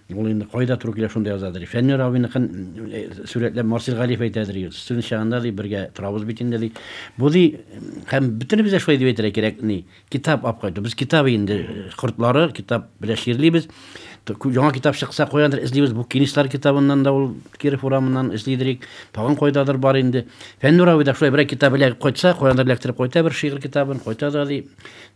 Ул инде кайда туры килә, шунда яза, ди. Фәннүр абыйныкын сурәтләп Марсель Галиев әйтә, ди, студент чагында, ди, бергә торабыз бит инде, ди. Бу, ди, һәм бөтенебез дә шулай дип әйтергә кирәк, ни, китап алып кайту. Без китап инде кортлары, китап белән чирлибез. Яңа китап чыкса, каяндыр эзлибез. Бу Кинислар китабыннан да ул Киров урамыннан эзлидерик. Тагын кайдадыр бар инде. Фәннүр абый да шулай берәр китап эләгеп кайтса, каяндыр эләктереп кайта бер шигырь китабын, кайта да, ди,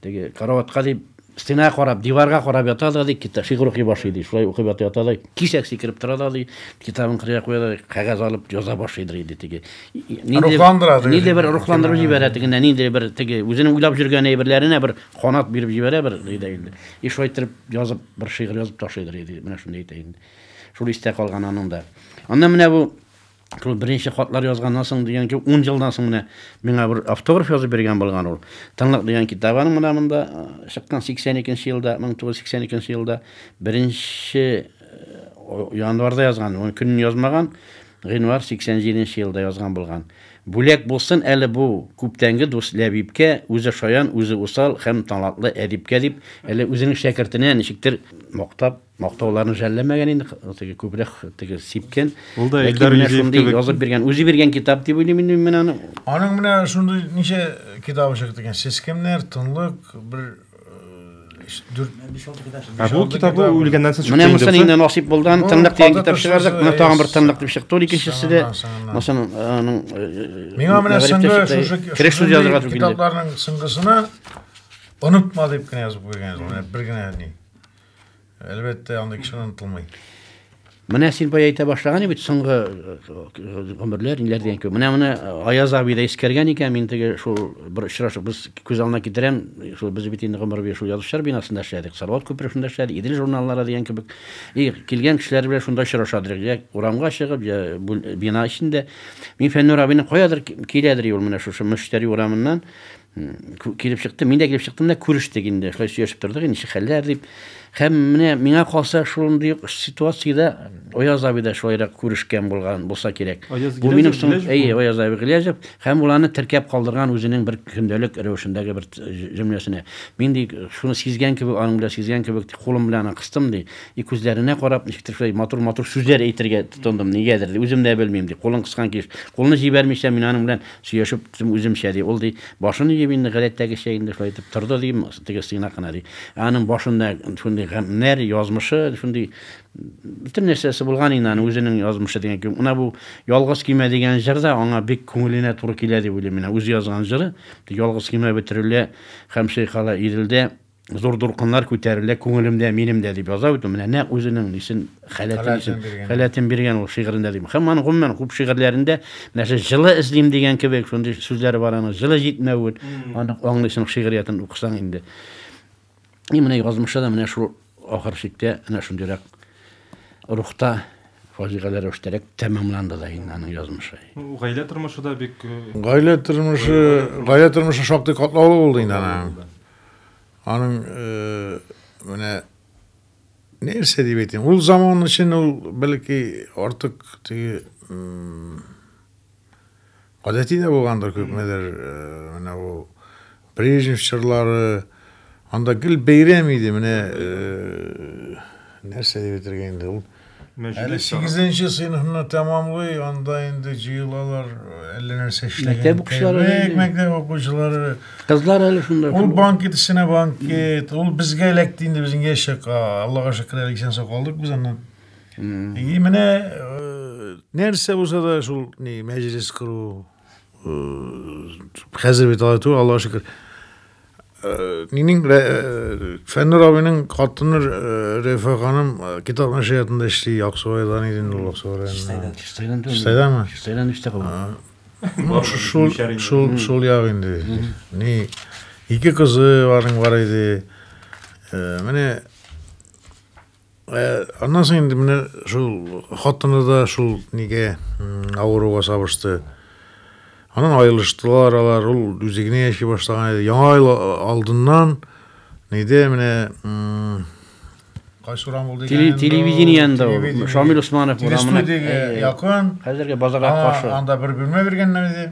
теге караватка, ди, Стенага карап, диварга карап ята да, ди, китап, шигырь укый башлый, ди, шулай укып ята, ята да, кисәк сикереп тора да, ди, китабын кырыйга куя да, кәгазь алып яза башлый, ди, ди, теге. Рухландыра, ди. Нидә бер рухландыру җибәрә, теге, нидә бер, теге, үзенең уйлап җөргән әйберләренә бер канат биреп җибәрә, бер, ди, ди, ди. И шулай итеп язып, бер шигырь язып ташлый, ди, ди, менә шундый әйтә инде. Шул истә калган аның да. Аннан менә бу, шул беренче хатлар язганнан соң дигән ки, ун елдан соң менә миңа бер автограф язып биргән булган ул. Тынлык дигән китабы аның менә монда э, чыккан 82 елда, 1982 елда беренче э, январда язган, ул көнен язмаган, гыйнвар 87 елда язган булган. Бүләк булсын әле бу күптәнге дус Ләбибкә, үзе шаян, үзе усал һәм талантлы әдипкә дип, әле үзенең шәкертенә ничектер мактап Мактауларны жәлләмәгән инде, теге күбрәк теге сипкән. Ул да Илдар Юзеев кебек язып биргән, үзе биргән китап дип уйлыйм инде мин аны. Аның менә шундый ничә китабы чыкты икән? Сез кемнәр? Тынлык, бер Ә бу китабы үлгәннән соң чыкты. Менә мосын инде насыйп булды. Аны тынлык дигән китап чыгардык. Менә тагын бер тынлык дип чыкты. Ул икенчесе дә мосын аның Миңа менә соңгы шушы кереш сүз язырга түгел. Китапларның соңгысына онытма дип кенә язып куйган. Менә бер генә ни. Әлбәттә, андый кеше онытылмый. Менә син бай әйтә башлаган бит соңгы э, гомерләр, ниләр дигән кебек. Менә моны Аяз абый да искәргән икән, мин теге шул бер очрашып без күз алдына китерәм, шул без бит инде гомер буе шул язучылар бинасында эшләдек, Салават күперешендә эшләдек, Идел журналлары дигән кебек. И килгән кешеләр белән шунда очрашадыр, я урамга чыгып, я бина эчендә. Мин Фәннүр абыйны каядыр киләдер ул менә шушы Мөштәри урамыннан килеп чыкты мин дә килеп чыктым да күрештек инде шулай сөйләшеп тордык инде ничек хәлләр дип һәм менә миңа калса шундый ук ситуациядә аяз абый да шулайрак күрешкән булган булса кирәк бу минем соң әйе аяз абый гилязев һәм ул аны теркәп калдырган үзенең бер көндәлек рәвешендәге бер җөмләсенә мин ди шуны сизгән кебек аның белән сизгән кебек кулым белән кыстым ди и күзләренә карап ничектер шулай матур матур сүзләр әйтергә тотындым нигәдер үзем дә белмим ди кулын кыскан килеш кулны җибәрмичә мин аның белән сөйләшеп Дим үземчә, ди. Ул, ди, башын иеп инде, гадәттәгечә инде шулай итеп торды, ди, теге сыйнак кына, ди. Ә аның башында шундый гамьләр, язмышы, шундый бөтен нәрсәсе булган инде аның үзенең язмышы дигән кебек. Менә бу Ялгыз көймә дигән җыр да аңа бик күңеленә туры килә дип уйлыйм. Менә үзе язган җыры, ялгыз көймә бөтерелә һәм чайкала Иделдә. зур дулкыннар күтәрелә күңелемдә минем дә дип яза бит менә нәкъ үзенең нисен халәтен халәтен биргән ул шигырендә дип һәм аны гомумән күп шигырьләрендә нәрсә җылы эзлим дигән кебек шундый сүзләре бар аның җылы җитмәвен аны аңлыйсың шигъриятен укысаң инде и менә язмышы да менә шул ахыр чиктә менә шундыйрак рухта фаҗигале рәвештәрәк тәмамланды да инде аның язмышы гаилә тормышы да бик гаилә тормышы гаилә тормышы шактый катлаулы булды инде аның Аның менә нәрсә дип әйтим, ул заман өчен ул бәлки артык теге гадәти дә булгандыр күпмедер менә ул Брежнев чорлары анда гел бәйрәм иде менә нәрсә дип әйтергә инде ул Әле сигезенче сыйныфны тәмамлый, анда инде җыелалар, әллә нәрсә эшләгән. Мәктәп укучылары. Мәктәп, мәктәп укучылары. Кызлар әле шунда. Ул банкет эченә банкет. Ул безгә эләкте инде безнең яшәк. Аллага шөкер, әле исән сау калдык без аннан. И менә нәрсә булса да шул ни мәҗлес кору, Хәзер бит алай түгел, Аллаһ шөкер. Минем Фәннүр абыйның хатыны Рәфә ханым китап нәшриятында эшли, Аксубайдан иде инде ул Аксубай районында. Чистайдан түгел. Чистайданмы? Чистайдан өстә калган. Шул шул шул як инде. Ни ике кызы барның бар иде. Менә Э, аннан соң инде менә шул хатыны да шул нигә авыруга сабышты анан айырылыштылар алар ул үзе генә яши башлаган иде яңа ел алдыннан нейде менә кайсы урам ул дигән телевидениеда ул шамил усманов урамына якын хәзерге базарга каршы анда бер бүлмә биргәннәр иде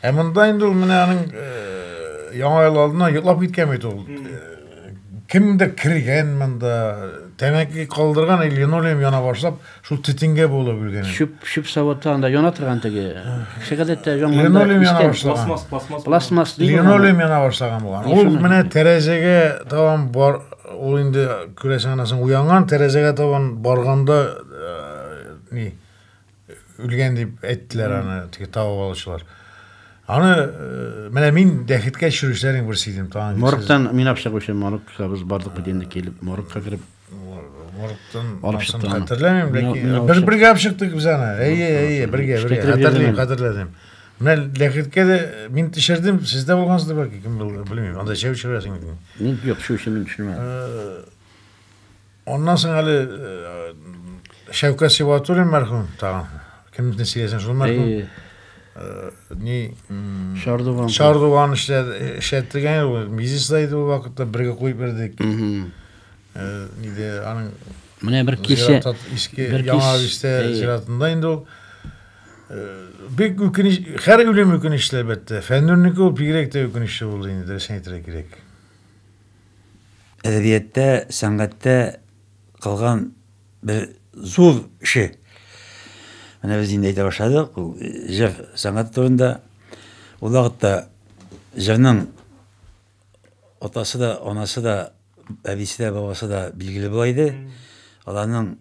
Ә монда инде ул менә аның яңа ел алдына йоклап киткән бит ул. Кемдер кергән монда, тәмәке калдырган или линолеум яна башлап, шул тетенгә булып өлгән. Чүп, чүп савытта анда яна торган теге. Кеше гадәттә янганда линолеум яна башлаган. Пластмасс, пластмасс. Пластмасс ди. Линолеум яна башлаган булган. Ул менә тәрәзәгә табан бар, ул инде күрәсең анасың уянган, тәрәзәгә табан барганда ни Үлгән дип әйттеләр аны, теге табып алучылар. Аны э, менә мин дәхеткә төшерүчеләрнең берсе идем. Тагын Моргтан мин алып чыгучы моргка без бардык бит инде килеп моргка кереп моргтан алып чыктым. Хәтерләмим, ләкин бер бергә алып чыктык без аны. Әйе, әйе, бергә, бергә. Хәтерлим, хәтерләдем. Менә ләхеткә дә мин төшердем, сез дә булгансыз бәлки, кем белмим. Анда чәү чыгасың. Мин юк, шушы мин төшермәдем. Э, Аннан соң әле Шәүкәт Сибатуллин мәрхүм тагын. Кемне сөйләсәң шул мәрхүм. Ни Шардуган. Шардуган эшләтелгән ул мизисда иде ул вакытта бергә куеп бирдек. Иде аның Менә бер кичә иске яңа бистә зиратында инде ул бик үкенеч һәр үлем үкенечле әлбәттә. Фәннүрнеке ул бигрәк тә үкенечле булды инде дөресен әйтергә кирәк. әдәбияттә, сәнгатьтә кылган бер зур эше. Менә без инде әйтә башладык, ул җыр сәнгате турында. Ул вакытта җырның атасы да, анасы да, әбисе дә, бабасы да билгеле була иде. Аларның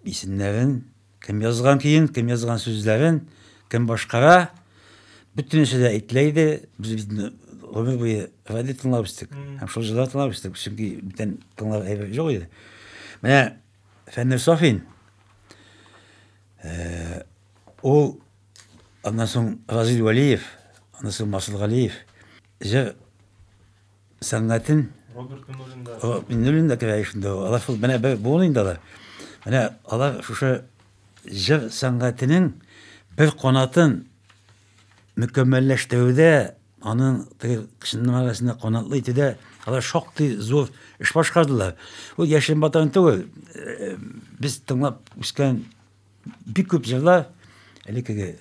исемнәрен, Кем язган көен, кем язган сүзләрен, кем башкара, бөтенесе дә әйтелә иде. Без бит гомер буе радио тыңлап үстек һәм шул җырлар тыңлап үстек, чөнки бүтән тыңлар әйбер юк иде. Менә Фәннүр Сафин э, ул аннан соң Разил Вәлиев, аннан соң Масыл Галиев җыр Сәнгатен Роберт Миннуллин да. О, Миннуллин да керә ишендә. Алар шул менә бер буын инде алар. Менә алар шушы җыр сәнгатенең бер канатын мөкәммәлләштерүдә, аның тыркышының арасында канатлы итүдә алар шактый зур эш башкардылар. Ул яшен батан түгел. Э, без тыңлап үскән бик күп җырлар элеккеге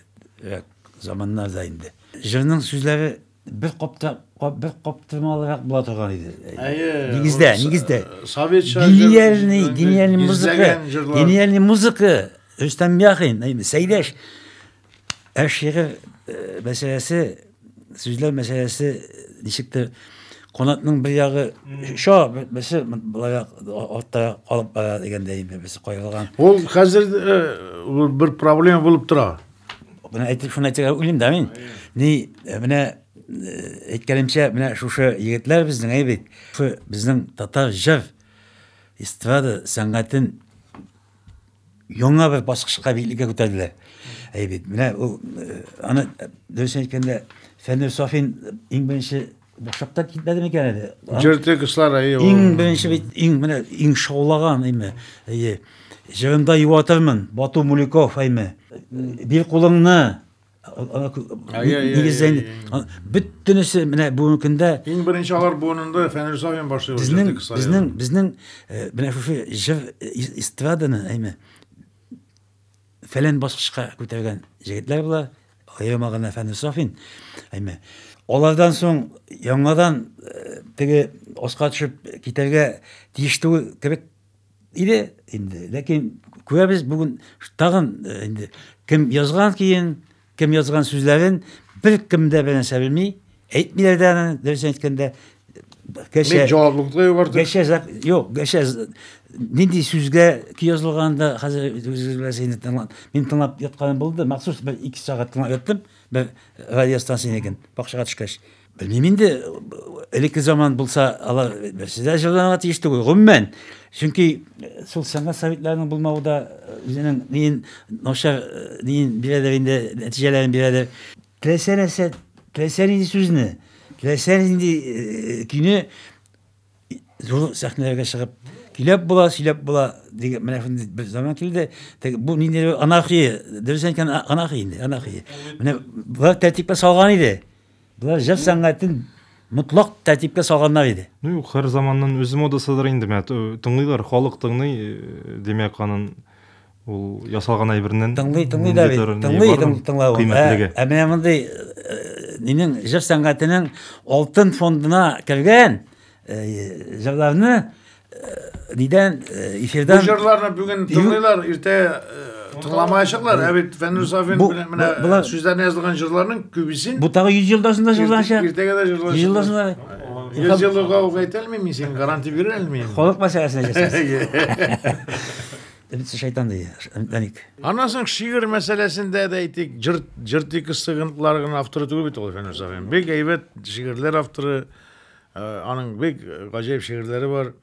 заманнарда инде. Җырның сүзләре бер капта бер каптырмалырак була торган иде. Әйе. Нигездә, нигездә. Советча гениальный, гениальный музыка. Гениальный музыка. Рөстәм Яхин, Сәйдәш. Ә шигырь э, мәсьәләсе, сүзләр мәсьәләсе ничектер канатның бер ягы шо берсе былай артта калып бара дигәндәй инде без кайгырган. Ул хәзер э, бер проблема булып тора. Менә әйтеп шуны әйтергә уйлыйм да мин. Ни, э, менә э, әйткәнемчә, менә шушы егетләр безнең әй бит. Шушы безнең татар җыр эстрада сәнгатен яңа бер баскычка биеклегә күтәрделәр. Әй бит, менә ул э, аны дөрес әйткәндә Фәнүр Сафин иң беренче Бушакта китмәде микән әле? Җырты кыслар әйе. Иң беренче бит иң менә иң шаулаган әйме. Әйе. Җырында юатырмын. Бату Муликов әйме. Бир кулыңны. Нигездән бөтенесе менә бүгенге көндә иң беренче алар буынында Фәнил Сафин башлый. Безнең безнең безнең менә шушы җыр эстраданы әйме. фәлән баскычка күтәргән җегетләр була, аерма гына Фәнү Сафин, әйме. Алардан соң яңадан э, теге аска төшеп китәргә тиеш түгел кебек иде инде. Ләкин күрәбез бүген тагын э, инде кем язган киен, Кем язган сүзләрен беркем дә бернәрсә белми, әйтмиләр дә аны, дөресен әйткәндә. Гәрчә җаваплылыкны югарды. Гәрчә юк, гәрчә нинди сүзгә ки язылган да хәзер үзегез беләсез инде тыңлап. Мин тыңлап ятканым булды, махсус бер 2 сәгать тыңлап яттым. Бер радиостанциянекен бакчага төшкәч. Белмим инде, элекке заман булса, алар берсе дә җырланырга тиеш түгел, гомумән. Чөнки шул э, сәнгать советларының булмавы да э, үзенең ниен начар э, ниен бирәдер инде, нәтиҗәләрен бирәдер. Теләсә нәрсә, теләсә нинди сүзне, теләсә нинди көйне зур сәхнәләргә чыгып көйләп була, сөйләп була дигән менә шундый бер заман килде. Бу ниндидер анархия, дөрес әйткән анархия инде, анархия. Менә болар тәртипкә салган иде. Болар җыр сәнгатен мотлак тәртипкә салганнар иде. Ну юк, һәр заманның үз модасыдыр инде, менә тыңлыйлар, халык тыңлый, димәк, анын ул ясалган әйбернен тыңлый, тыңлый да бит, тыңлый, тыңлау. Кыйммәтлеге. Ә менә мондый минем җыр сәнгатенең алтын фондына кергән Җырларны нидән эфирдан Бу җырларны бүген тыңлыйлар, иртә тыңламаячаклар. Ә бит Фәнүр Сафин белән менә сүзләренә язылган җырларның күбесен Бу тагы 100 елдан соң да җырланачак. Иртәгә дә җырланачак. 100 елдан соң да. Йөз еллыгы ук әйтә алмыйм мин сиңа, гарантия бирә алмыйм. Халык мәсьәләсенә Бит шайтан ди, Даник. Аннан соң шигырь мәсьәләсендә дә әйтик, җыр җыр текстларын авторы түгел бит ул Фәнүр Сафин. Бик әйбәт шигырьләр авторы. Аның бик гаҗәеп шигырьләре бар.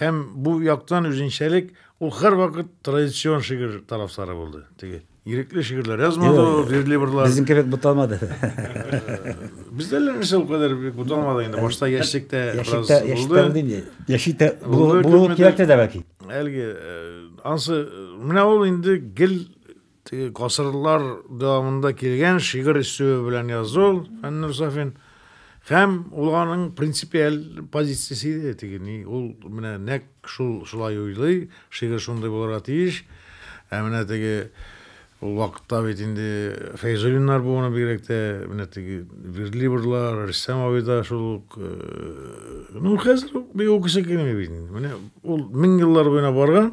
Һәм бу яктан үзенчәлек, ул һәрвакыт традицион шигырь тарафдары булды. Теге ирекле шигырьләр язмады ул, верлибрлар. Безнең кебек буталмады. Бездә лә нәрсә ул кадәр бик буталмады инде. Башта яшьлектә бераз булды. Яшьлектә булды инде. Яшьлектә булу кирәк тә дә бәлки. Әлеге ансы менә ул инде гел Теге гасырлар дәвамында килгән шигырь өстәве белән язу Фәннүр Сафин һәм ул аның принципиаль позициясе иде теге ни ул менә нәк шул шулай уйлый шигырь шундый булырга тиеш ә менә теге ул вакытта бит инде Фәйзуллиннар буыны бигрәк тә менә теге Вердлибрлар Рөстәм абый да шул ук э, ну хәзер бик укыйсы килми бит менә ул мең еллар буена барган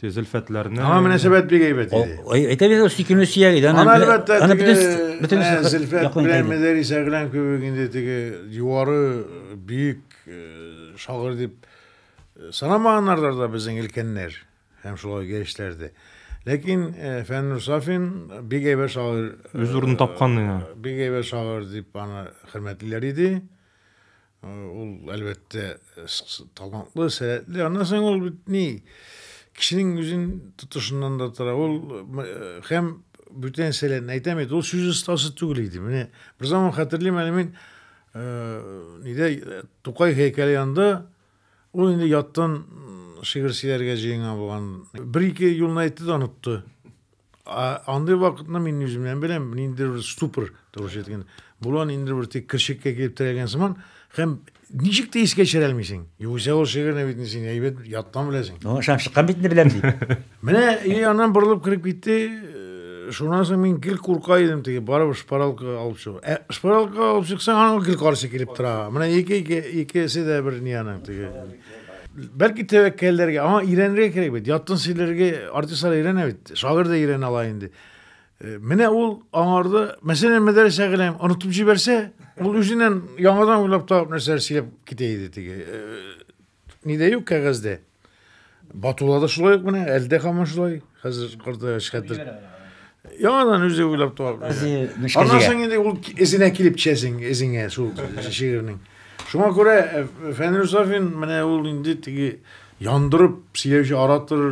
Тез Зөлфәтләрне. Аңа мөнәсәбәт бик әйбәт иде. Әйтә бит, сөйкемле сөяк иде. Аны әлбәттә, бөтен Зөлфәт белән Мәдәрис Әгъләм кебек инде теге юары бөек э, шагыйрь дип э, санамаганнардыр да безнең өлкәннәр һәм шулай яшьләр дә. Ләкин э, Фәннур Сафин бик әйбәт шагыйрь. Үз урынын тапкан. Бик әйбәт шагыйрь дип аны хөрмәтлиләр иде. Ул, әлбәттә, талантлы, сәләтле. Аннан соң ул бит ни, кешенең үзен тотышыннан да тора. Ул һәм бүтән сәләтен әйтәм бит, ул сүз остасы түгел иде. Менә бер заман хәтерлим әле мин, нидә Тукай һәйкәле янында ул инде яттан шигырь сөйләргә җыенган булган. Бер-ике юлны әйтте дә онытты. Андый вакытны мин үземнән беләм, ниндидер бер ступор тавыш иткән. Булган инде бер тик кершеккә килеп терәгән сыман, һәм ничек тә искә төшерә алмыйсың. Югыйсә ул шигырьне бит син әйбәт яттан беләсең. Ну, шам чыккан бит инде беләм ди. Менә и аннан борылып кереп китте. Шуннан соң мин гел курка идем теге барып шпаралка алып чыгу. Ә шпаралка алып чыксаң, аның гел каршы килеп тора. Менә ике-ике икесе дә бер ни аның теге. Бәлки тәвәккәлләргә, аңа өйрәнергә кирәк бит. Яттын сөйләргә артистлар өйрәнә бит. Шагыйрь дә өйрәнә ала инде. Э, менә ул аңарда, мәсәлән, Мәдәрәс Әгъләм онытып җибәрсә, ул үзеннән яңадан уйлап табып нәрсәләр сөйләп китә иде теге. Э, нидә юк кәгазьдә. Батулада шулай ук менә, әлдә һаман шулай. Хәзер картая шкәтер. Яңадан үзе уйлап табып. Аннан соң инде ул эзенә килеп төшәсең, эзеңә шул шигырьнең. Шуңа күрә э, Фәнил Сафин менә ул инде теге яндырып сөйләүче оратор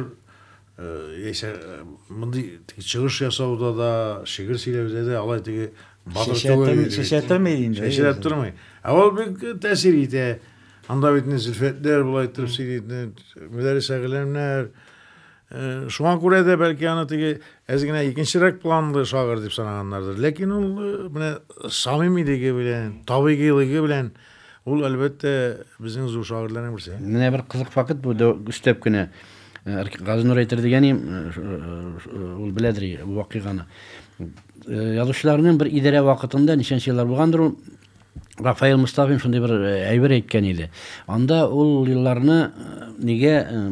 яисә э, э, мондый чыгыш ясауда да, шигырь сөйләүдә дә алай теге батыр түгел. Шешә тормый инде. Шешә тормый. Ә ул бик тәэсир итә. Анда бит Зөлфәтләр болай торып сөйли, Мөдәррис Әгъләмнәр, Э, шуңа күрә дә бәлки аны теге әз генә икенчерәк планлы шагыйрь дип санаганнардыр ләкин ул э, менә самимилеге белән табигыйлыгы белән ул әлбәттә безнең зур шагыйрьләрнең берсе менә бер кызык факт бу өстәп кенә э, газинур әйтер дигәнем ул беләдер вакыйганы язучыларның бер идарә вакытында ничәнче еллар булгандыр ул Рафаэль Мостафин шундый бер э, әйбер әйткән иде. Анда ул елларны э, нигә э,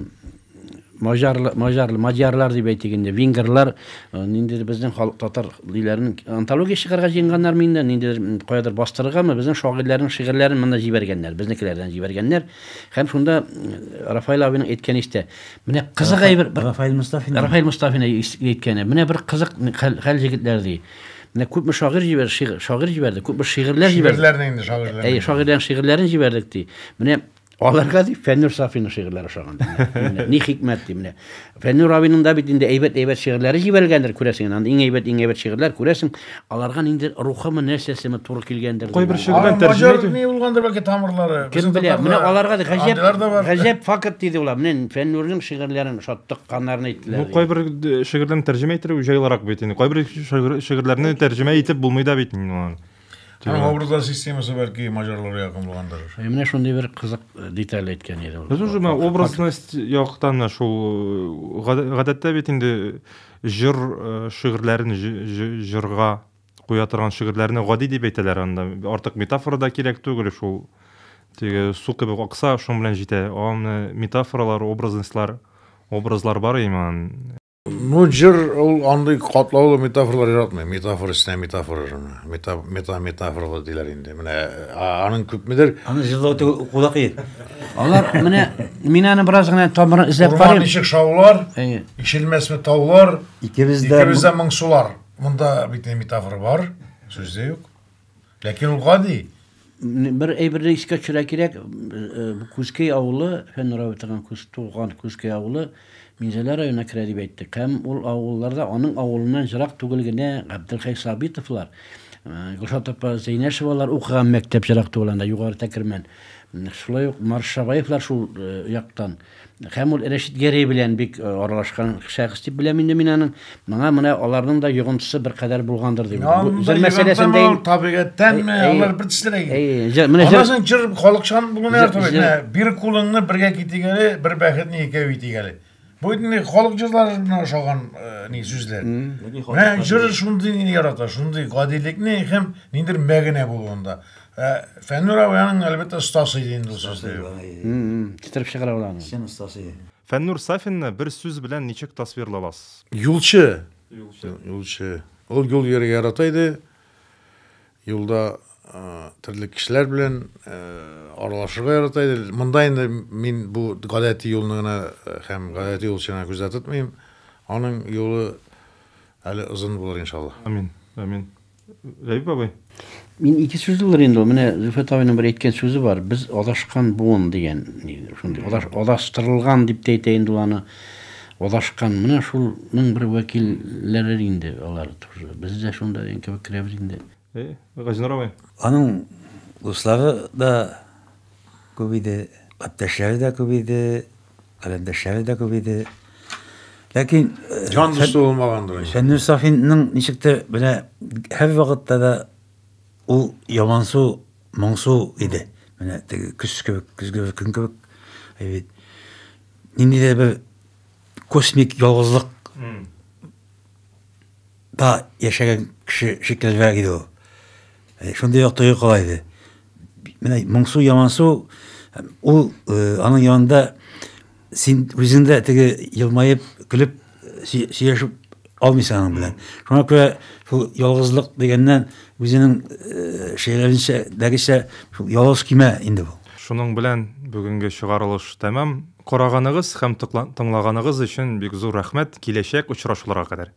мажарлы мажарлы мадьярлар дип әйтик инде венгрлар нинди безнең халык татар диләрен антология чыгарга җыенганнар инде ниндидер каядыр бастырыргамы безнең шагыйрьләрнең шигырьләрен монда җибәргәннәр безнекеләрдән җибәргәннәр һәм шунда рафаэль абиның әйткәне истә менә кызык әйбер рафаэль мостафин рафаэль мостафин әйткәне менә бер кызык хәл җегетләр ди Менә күпме шагыйрь җибәрде, шигырь, шагыйрь җибәрде, күпме шигырьләр җибәрде. Шигырьләрне инде шагыйрьләр. Әй, шагыйрьләрнең шигырьләрен җибәрдек ди. Менә аларга ди Фәннүр Сафиның шигырьләре ошаган. Ни хикмәт ди менә. Фәннүр абының да бит инде әйбәт-әйбәт шигырьләре җибәрелгәндер, күрәсең инде. Анда иң әйбәт, иң әйбәт шигырьләр күрәсең, аларга инде рухымы, нәрсәсеме туры килгәндер. Кайбер шигырьләр тәрҗемә итү. Ни булгандыр бәлки тамырлары. Кем белә? Менә аларга да гаҗәп, гаҗәп факт диде улар. Менә Фәннүрнең шигырьләрен ошаттык. Каннарны иттеләр. Бу кайбер шигырьләрне тәрҗемә иттерү җайлырак бит инде. Кайбер шигырьләрне тәрҗемә итеп булмый да бит инде аны. Һәм образлар системасы бәлки маҗарларга якын булгандыр. Ә менә шундый бер кызык деталь әйткән иде ул. Без уже менә образность яктан да шул гадәттә бит инде җыр шигырьләрен җырга куя торган шигырьләрне гади дип әйтәләр анда. Артык метафора да кирәк түгел шул. Теге су кебек акса, шуның белән җитә. Аны метафоралар, образностьлар, образлар бар иман. Ну, җыр ул андый катлаулы метафоралар яратмый. Метафора өстенә метафора шуны. Мета мета метафоралы диләр инде. Менә аның күпмедер Аны җырлау түгел, укуда кыен. Алар менә мин аны бераз гына тамырын эзләп карыйм. Урман ишек шаулар, ишелмәсме таулар, икебез дә моңсулар. Монда бит не метафора бар, сүз дә юк. Ләкин ул гади. Бер әйберне искә төшерә кирәк, э, Күзкәй авылы, Фән Равитовның күз туган Күзкәй авылы Минзәлә районына керә дип әйттек. Һәм ул авылларда аның авылыннан ерак түгел генә Габделхәй Сабитовлар, э, Гөлшат апа Зәйнәшевалар укыган мәктәп ерак түгел анда, югары Тәкермән. Шулай ук Маршабаевлар шул э, яктан. Хәм ул Рәшит Гәрәй белән бик э, аралашкан шәхес дип беләм инде мин аның. Моңа менә аларның да йогынтысы бер кадәр булгандыр дип. Бу җыр мәсьәләсендә ул табигатьтәнме, алар бер төслерәк икән. Менә җыр соң җыр халыкчан бүген нәрсә бит. Менә бер кулыңны бергә китегәле, бер бәхетне икәү итегәле. Бу инде халык җырларына ошаган э, ни сүзләр. Менә җыр шундый ни ярата, шундый гадилекне һәм ниндер мәгънә булуында. Ә Фәннүр абый аның әлбәттә остасы иде инде ул сүзне. Китереп чыгара ул аны. Чын остасы иде. Фәннүр Сафинны бер сүз белән ничек тасвирлаласыз? Юлчы. Юлчы. Юлчы. Ул юл йөрергә ярата иде. Юлда төрле кешеләр белән аралашырга ярата иде. Монда инде мин бу гадәти юлны гына һәм гадәти юлчыны күздә тотмыйм. Аның юлы әле озын булыр, иншалла. Амин. Амин. Рәбип бабай. Мин ике сүз булыр инде, менә Зөфәт абыйның бер әйткән сүзе бар, без адашкан буын дигән, шундый адаш, адаштырылган дип тә әйтә инде аны. Адашкан, менә шулның бер вәкилләре инде алар тоже. Без дә шунда дигән кебек керәбез инде. Э, Газинур абый. Аның дуслары да күп иде, иптәшләре дә күп иде. Каләмдәшләре дә күп иде. Ләкин җан дусты булмагандыр. Фәннүр Сафинның ничектер менә һәр вакытта да ул ямансу, моңсу иде. Менә теге көз кебек, көзге бер көн кебек. Әйбит. Ниндидер бер космик ялгызлык да яшәгән кеше шикеллерәк иде ул. Э, шундый як тойгы кала иде. Менә моңсу, ямансу, ул э, аның янында син үзендә теге елмаеп, көлеп, сөйләшеп алмыйсың аның белән. Шуңа күрә шул ялгызлык дигәннән үзенең э, шәйләренчә, дәгечә шул ялгыз кимә инде бу. Шуның белән бүгенге чыгарылыш тәмам. Караганыгыз һәм тыңлаганыгыз өчен бик зур рәхмәт. Киләчәк очрашуларга кадәр.